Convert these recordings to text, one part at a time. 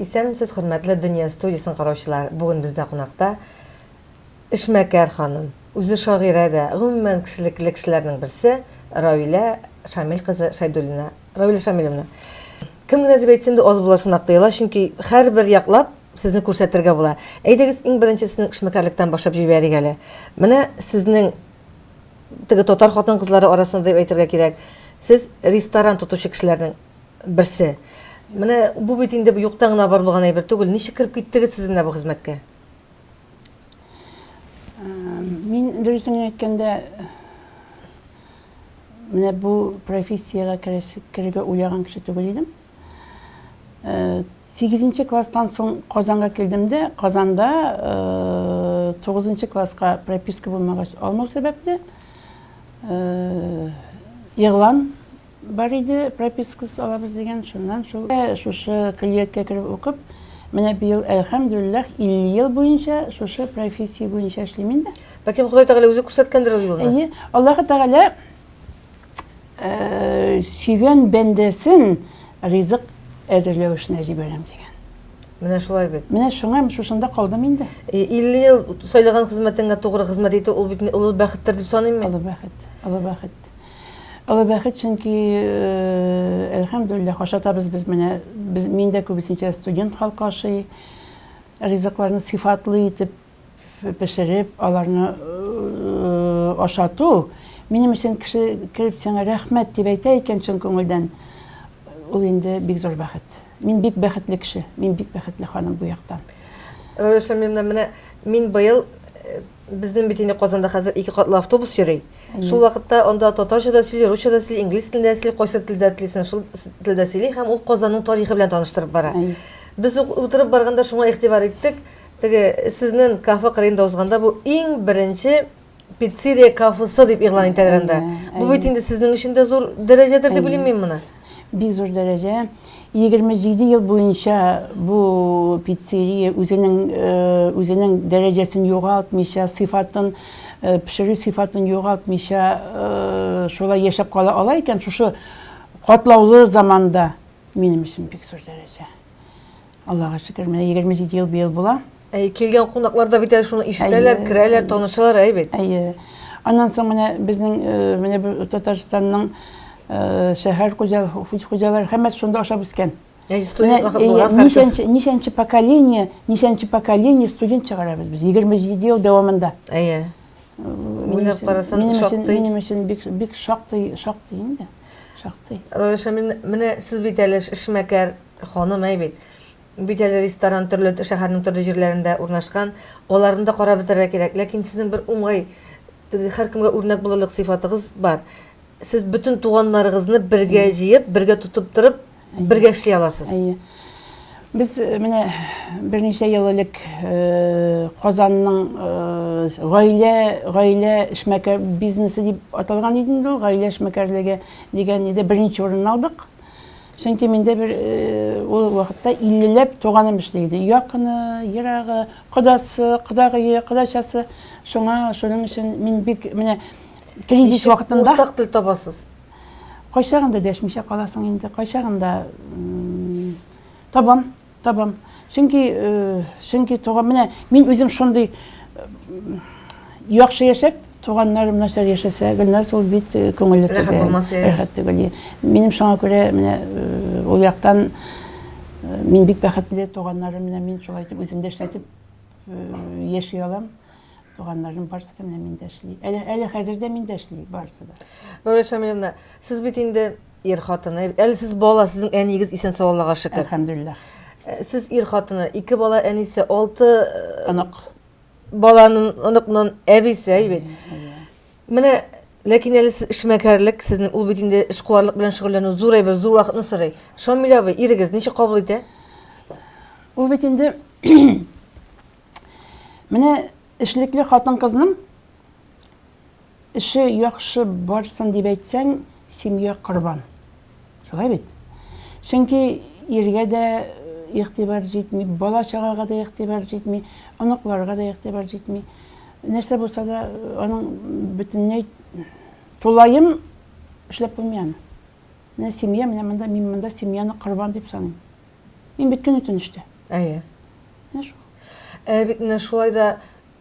Исәнмесез, хөрмәтле Дөнья студиясен караучылар. Бүген бездә кунакта эшмәкәр ханым, үзе шагыйрә дә, гомумән, кешелекле кешеләрнең берсе Равилә Шамил кызы Шәйдуллина. Равилә Шамилевна, кем генә дип әйтсен дә аз болар сымак тоела, чөнки һәрбер яклап сезне күрсәтергә була. Әйдәгез, иң беренче сезнең эшмәкәрлектән башлап җибәрик әле. Менә сезнең теге татар хатын-кызлары арасында дип әйтергә кирәк, сез ресторан тотучы кешеләрнең берсе. Менә бу бит инде юктан гына бар булган әйбер түгел. Ничек кереп киттегез сез менә бу хезмәткә? Мин, дөресен генә әйткәндә, менә бу профессиягә керергә уйлаган кеше түгел идем. Сигезенче класстан соң Казанга килдем дә, Казанда тугызынчы класска прописка булмагач алмау сәбәпле, игълан бар иде, пропискасыз алабыз дигән, шуннан шул шушы көллияткә кереп укып, менә быел, әлхәмдүлилләһ, 50 ел буенча шушы профессия буенча эшлим инде. Бәлкем Ходай Тәгалә үзе күрсәткәндер ул юлны? Әйе, Аллаһы Тәгалә э, сөйгән бәндәсен ризык әзерләү эшенә җибәрәм дигән. Менә шулай бит. Менә шуңа шушында калдым инде. 50 э, ел сайлаган хезмәтеңә тугры хезмәт итү ул бит олы бәхеттер дип саныйм мин. Олы бәхет, олы бәхет. Олы бәхет, чөнки э, әлхәмдулиллах ашатабыз без менә без миндә күбесенчә студент халкы ашый. Ризыкларны сыйфатлы итеп пешереп, аларны ашату минем өчен кеше кереп сиңа рәхмәт дип әйтә икән чын күңелдән, ул инде бик зур бәхет. Мин бик бәхетле кеше, мин бик бәхетле ханым бу яктан. Роза Шамиловна, менә мин быел безнең бит инде Казанда хәзер ике катлы автобус йөри. Шул вакытта анда татарча да сөйли, русча да сөйли, инглиз телендә сөйли, кайсы телдә телисен, шул телдә сөйли һәм ул Казанның тарихы белән таныштырып бара. Без утырып барганда шуңа игътибар иттек. Теге сезнен кафе кырыенда узганда бу иң беренче пиццерия кафысы дип игълан итәлгән дә. Бу бит инде сезнең өчен дә зур дәрәҗәдер дип уйлыйм мин моны. Бик зур дәрәҗә. 27 ел буенча бу пиццерия үзенең үзенең дәрәҗәсен югалтмыйча, сыйфатын, пешерү сыйфатын югалтмыйча шулай яшәп кала ала икән шушы катлаулы заманда, минем өчен бик зур дәрәҗә. Аллага шөкер, менә 27 ел быел була. Әй, килгән кунаклар да бит әле шуны ишетәләр, керәләр, танышалар, әй бит. Әйе. Аннан соң менә безнең э, менә бу Татарстанның э, шәһәр хуҗалары һәммәсе шунда ашап үскән. Әй, студент вакыт булган. Ничәнче, ничәнче поколение, ничәнче поколение студент чыгарабыз без 27 ел дәвамында. Әйе. Уйлап карасаң, шактый. Минем өчен бик бик шактый, шактый инде. Шактый. Раиша, менә сез бит әле эшмәкәр ханым, әй бит. Бит әле ресторан төрле шәһәрнең төрле җирләрендә урнашкан. Аларны да карап бетерергә кирәк. Ләкин сезнең бер уңай, һәркемгә үрнәк булырлык сыйфатыгыз бар. Сез бөтен туганнарыгызны бергә җыеп, бергә тотып торып, Бергә эшли аласыз. Әйе. Без э, менә берничә ел элек э, Казанның э, гаилә гаилә эшмәкәр бизнесы дип аталган иде инде ул, гаилә эшмәкәрлеге дигән иде. Беренче урынны алдык. Чөнки миндә бер ул вакытта 50ләп туганым эшли иде. Якыны, ерагы, кодасы, кодагые, кодачасы. Шуңа шуның өчен мин бик менә кризис вакытында уртак тел табасыз. Кайчагында дәшмичә каласың инде, кайчагында табам, табам. Чөнки, чөнки туган, менә мин үзем шундый яхшы яшәп, туганнарым нәрсә яшәсә, Гөлнар сул бит күңелле түгел. Рәхәт булмаса. Рәхәт түгел. Минем шуңа күрә менә ул яктан мин бик бәхетле, туганнарым менә мин шулай итеп үземдә эшләтеп яши алам. Туганнарның барысы да менә миндә эшли. Әле, әле хәзер дә миндә эшли барысы да. Нурия Шамиловна, сез бит инде ир хатыны. Әле сез бала, сезнең әниегез исән сау Аллага шөкер. Әлхәмдулиллах. Э, сез ир хатыны, ике бала әнисе, алты э, онык. Баланың оныкның әбисе, әйбит. Менә Ләкин әле сез эшмәкәрлек, сезнең ул бит инде эшкуарлык белән шөгыльләнү зур әйбер, зур вакытны сорый. Шамил абый, ирегез ничек кабул итә? Ул бит инде Менә эшлекле хатын-кызның эше яхшы барсын дип әйтсәң, семья корбан. Шулай бит? Чөнки иргә дә э, игътибар җитми, бала чагага да игътибар җитми, оныкларга да игътибар җитми. Нәрсә булса да, э, аның бөтенләй тулаем эшләп булмый аны. Менә семья, менә монда мин монда семьяны корбан дип саныйм. Мин бит көне төн эштә. Әйе. Менә шул. Ә бит менә шулай да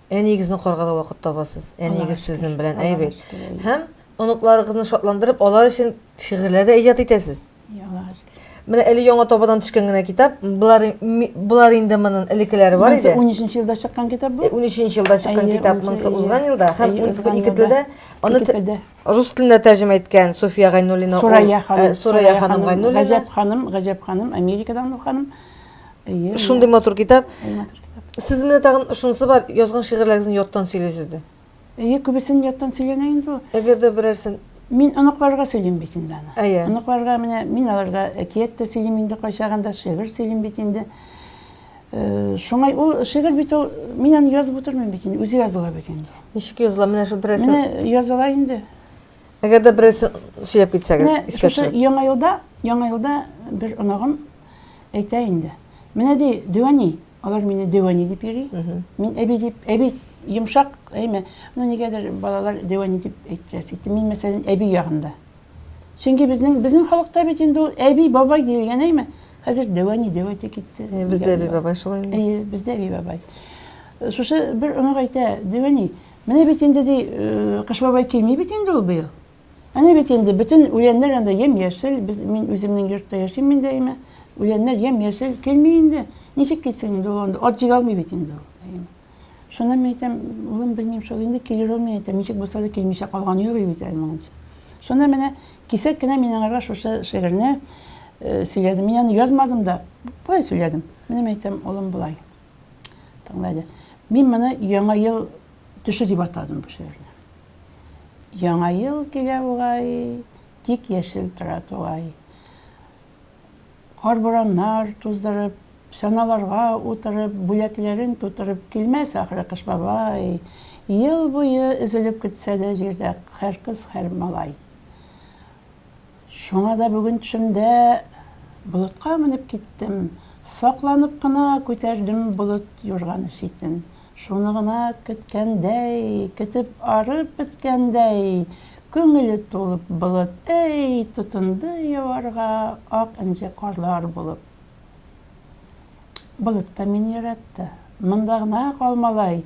әниегезне укырга да вакыт табасыз. Әниегез сезнең белән әйбәт. Һәм оныкларыгызны шатландырып, алар өчен шигырьләр дә иҗат итәсез. Яңа. Менә әле яңа табадан төшкән генә китап. Болар болар инде монын элекеләре бар иде. 13 елда чыккан китап бу. 13 э, елда чыккан китап монысы узган елда һәм ике телдә аны рус теленә тәрҗемә иткән София Гайнуллина. Сурая ханым. Э, Сурая ханым Гайнуллина. Гаҗәп ханым, Гаҗәп ханым, Америкадан бу ханым. Әйе. Шундый матур китап. Сез менә тагын шунысы бар, язган шигырьләрегезне яттан сөйлисез дә. Әйе, күбесен яттан сөйләнә инде ул. Әгәр дә берәрсен Мин оныкларга сөйлим бит инде аны. Әйе. Оныкларга менә мин аларга әкият тә сөйлим инде кайчагында, шигырь сөйлим бит инде. Э, шуңай ул шигырь бит ул мин аны язып утырмыйм бит инде, үзе языла бит инде. Ничек языла? Менә шул берәрсен. Менә языла инде. Әгәр дә берәрсе сөйләп китсәгез, Менә искә шушы төшереп. яңа елда, яңа елда бер онагым әйтә инде. Менә ди, дәвәни, алар мине дәвәни дип йөри. Мин әби дип, әби йомшак, әйме. Ну нигәдер балалар дәвәни дип әйттерәс итте. Мин мәсәлән әби ягында. Чөнки безнең безнең халыкта бит инде ул әби, бабай дигән әйме. Хәзер дәвәни, дәвәти китте. Э, Бездә әби бабай шулай инде. Әйе, бездә әби бабай. Шушы бер онак әйтә, дәвәни, Менә бит инде, ди, Кыш бабай килми бит инде ул быел. Әнә бит инде бөтен үләннәр анда ямь-яшел, без мин үземнең йортта яшим мин даимә. Үләннәр ямь-яшел килми инде. Ничек килсен инде ул анда? Ат җигә алмый бит инде ул. Шуны мин әйтәм, улым, белмим шул инде килер ул, мин әйтәм, ничек булса да килмичә калган юк бит әле моңынча. Шуны менә кисәк кенә мин аңарга шушы шигырьне сөйләдем. Мин аны язмадым да, болай сөйләдем. Менә мин әйтәм, улым, болай. Тыңла әле. Мин моны Яңа ел төше дип атадым бу шигырьне. Яңа ел килә бугай, тик яшел тора тугай. Кар бураннар туздырып, саналарга утырып, бүләкләрен тутырып килмәс ахры Кыш бабай. Ел буе өзелеп көтсә дә җирдә һәр кыз, һәр малай. Шуңа да бүген төшемдә болытка менеп киттем, сакланып кына күтәрдем болыт юрганы читен. Шуны гына көткәндәй, көтеп арып беткәндәй, күңеле тулып болыт, әй, тотынды яварга ак энҗе карлар булып. Болыт та мине яратты. Монда гына кал, малай!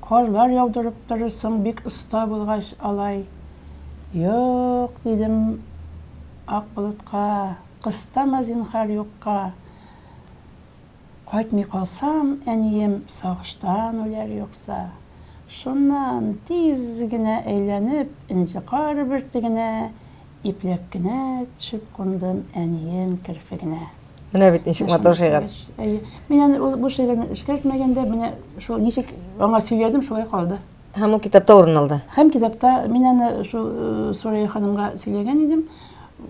Карлар яудырып торырсың, бик оста булгач, алай. Юк, дидем ак болытка, кыстама, зинһар, юкка. Кайтмый калсам, әнием сагыштан үләр юкса. Шуннан тиз генә әйләнеп, энҗе кар бөртегенә Ипләп кенә төшеп кундым әнием керфегенә. Менә бит ничек матур шигырь. Әйе. Мин аны ул бу шигырьне эшкәртмәгәндә, менә шул ничек аңа сөйләдем, шулай калды. Һәм ул китапта урын алды. Һәм китапта мин аны шул э, Сурая ханымга сөйләгән идем.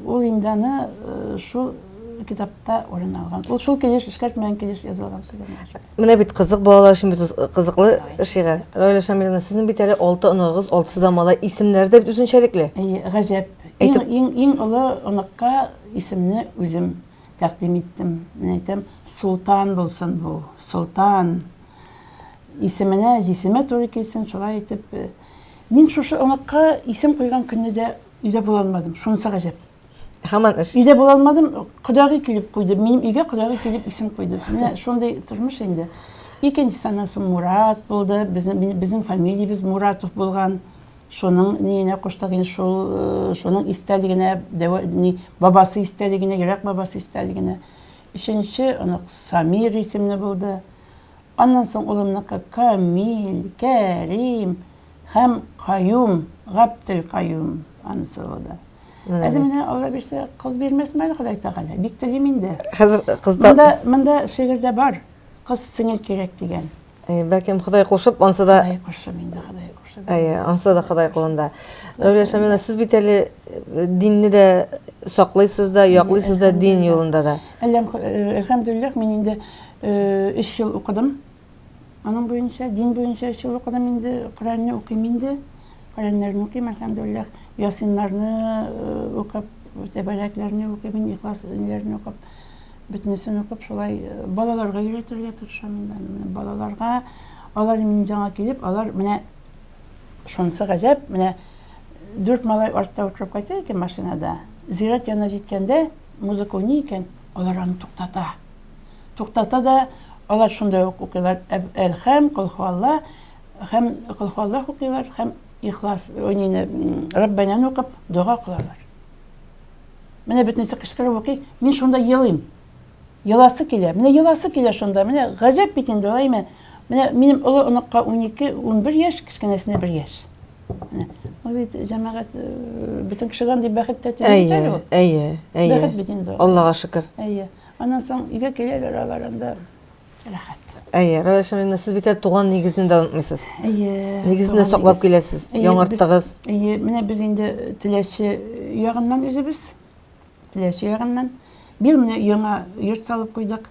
Ул инде аны э, шул китапта урын алган. Ул шул килеш эшкәрт белән килеш язылган шигырь. Менә бит кызык балалар өчен бит кызыклы шигырь. Рауля Шамиловна, сезнең бит әле алты оныгыз, алтысы да малай, исемнәре дә бит үзенчәлекле. Әйе, гаҗәп. Иң иң иң олы оныкка исемне үзем тәкъдим иттем. Мин әйтәм, Султан булсын бу, Султан. Исеменә, җисеме туры килсен, шулай итеп. Мин шушы оныкка исем куйган көнне дә өйдә булалмадым. Шунысы гаҗәп. Хаман эш. Өйдә була алмадым, кодагый килеп куйды. Минем өйгә кодагый килеп исем куйды. Менә шундый тормыш инде. Икенче санасы Мурат булды. Безнең безнең фамилиябез Муратов булган. Шуның ниенә куштык инде шул э, шуның истәлегенә, ни бабасы истәлегенә, йөрәк бабасы истәлегенә. Өченче онык Самир исемле булды. Аннан соң улымныкы Камил, Кәрим, һәм Каюм, Габделкаюм аны сыйлады. Әле менә Алла бирсә, кыз бирмәсме әле Ходай Тәгалә? Бик телим инде. Хәзер кызда Монда, монда шигырьдә бар. Кыз сеңел кирәк дигән. Э, бәлкем Ходай кушып, ансы да Ходай кушып инде, Ходай кушып. Әйе, ансы да Ходай кулында. Рәүлә Шамина, сез бит әле э, динне дә саклыйсыз да, яклыйсыз да дин юлында да. Әлләм, э, әлхәмдулиллах, мин инде 3 ел укыдым. Аның буенча, дин буенча өч ел укыдым инде, Коръәнне укыйм инде. Коръәннәрне укыйм, әлхәмдулиллах. Ясиннарны э, укып, тәбәрәкләрне укыйм, инде, ихлас ниләрне укып, бөтенесен укып, шулай э, балаларга өйрәтергә тырышам инде. Менә Балаларга алар минем җанга килеп, алар менә шунысы гаҗәп, менә дүрт малай артта утырып кайта икән машинада. Зират янына җиткәндә, музыка уйный икән, алар аны туктата. туктата да алар шунда ук укыйлар әлхәм колхуалла һәм колхуалла укыйлар һәм ихлас нини раббанәне укып дога кылалар менә бөтенесе кычкырып укый мин шунда елыйм еласы килә менә еласы килә шунда менә гаҗәп бит инде алай менә менә минем олы оныкка унике унбер яшь кечкенәсенә бер яшь ул бит җәмәгать бөтен кешегә андый бәхет тәти әйе әйе әйе бәхет бит инде аллага шөкер әйе Аннан соң өйгә киләләр алар анда рәхәт. Әйе, Рәвәл Шамиловна, сез бит әле туган нигезне дә онытмыйсыз. Әйе. Нигезне дә саклап киләсез, яңарттыгыз. Әйе, менә без инде э, Теләче ягыннан үзебез. Теләче ягыннан. Бир менә яңа йорт салып куйдык.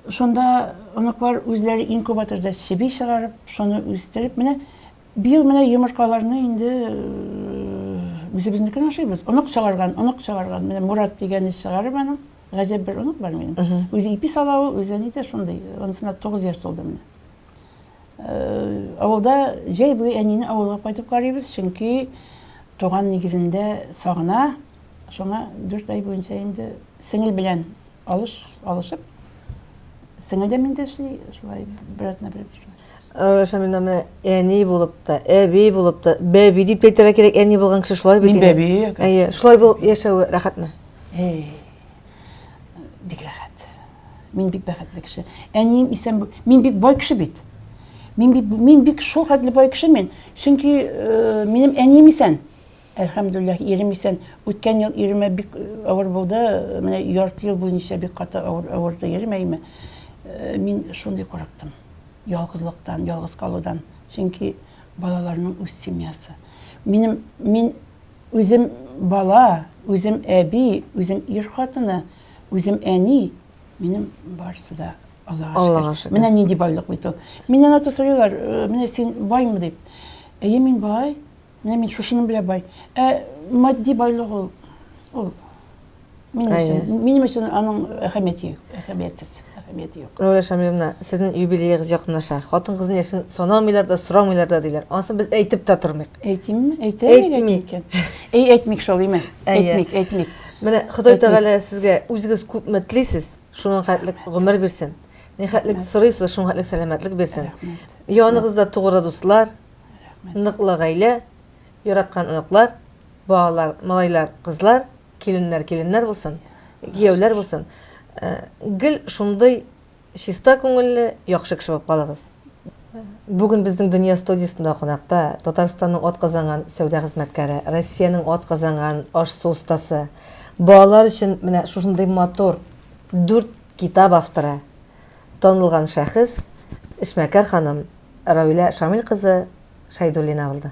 Шунда оныклар үзләре инкубаторда чеби чыгарып, шуны үстереп, менә Быел менә йомыркаларны инде үзебезнекен ашыйбыз. Онык чыгарган, онык чыгарган. Менә Мурат дигән исчыларым аның. Гаҗәп бер онык бар минем. Үзе ипи сала ул, үзе әни дә шундый. Анысына 9 яшь тулды менә. Авылда җәй буе әнине авылга кайтып карыйбыз, чөнки туган нигезендә сагына. Шуңа 4 ай буенча инде сеңел белән алыш алышып, сеңел дә миндә эшли, шулай бер атна бер Рәшә менә менә әни булып та, әби булып та, бәби дип әйтергә кирәк, әни булган кеше шулай бит. Мин бәби. Әйе, шулай булып яшәве рәхәтме? Әй. Бик рәхәт. Мин бик бәхетле кеше. Әнием исән, мин бик бай кеше бит. Мин бик мин бик шул хәтле бай кеше мин, чөнки э, минем әнием исән. Әлхәмдүлләһ, ирем исән. Үткән ел иремә бик авыр булды, менә ярты ел буенча бик каты авыр, авырды ирем, әйме. Мин шундый курыктым. Ялгызлыктан, ялгыз калудан. Чөнки балаларның үз семьясы. Минем, мин үзем бала, үзем әби, үзем ир хатыны, үзем әни, минем барысы да Аллага шөкер. Аллага шөкер. Менә нинди байлык бит ул. Миннән аты сорыйлар, менә син баймы дип. Әйе, мин бай, Менә мин шушының белән бай. Ә матди байлык ул ул минем өчен, минем өчен аның әһәмияте юк, әһәмиятсез, әһәмияте юк. Нура Шамиловна, сезнең юбилеегыз якынлаша. Хатын-кызны яшен санамыйлар да, сорамыйлар да диләр. Ансын без әйтеп тә тормыйк. Әйтимме? Әйтәмик. Әй, әйтмик шул, име? Әйтмик, әйтмик. Менә Ходай Тәгалә сезгә үзегез күпме телисез, шуның хәтлек гомер бирсен. Ни хәтлек сорыйсыз, шуның хәтлек сәламәтлек бирсен. Яныгызда тугры дуслар, Рәхмәт. Ныклы гаилә, яраткан оныклар, балалар, малайлар, кызлар, киленнәр, киленнәр булсын, кияүләр булсын. Э, гел шундый чиста күңелле, яхшы кеше булып калыгыз. Бүген безнең Дөнья студиясендә кунакта Татарстанның атказанган сәүдә хезмәткәре, Россиянең атказанган аш-су остасы, балалар өчен менә шушындый матур дүрт китап авторы, танылган шәхес, эшмәкәр ханым Равилә Шамил кызы Шәйдуллина булды.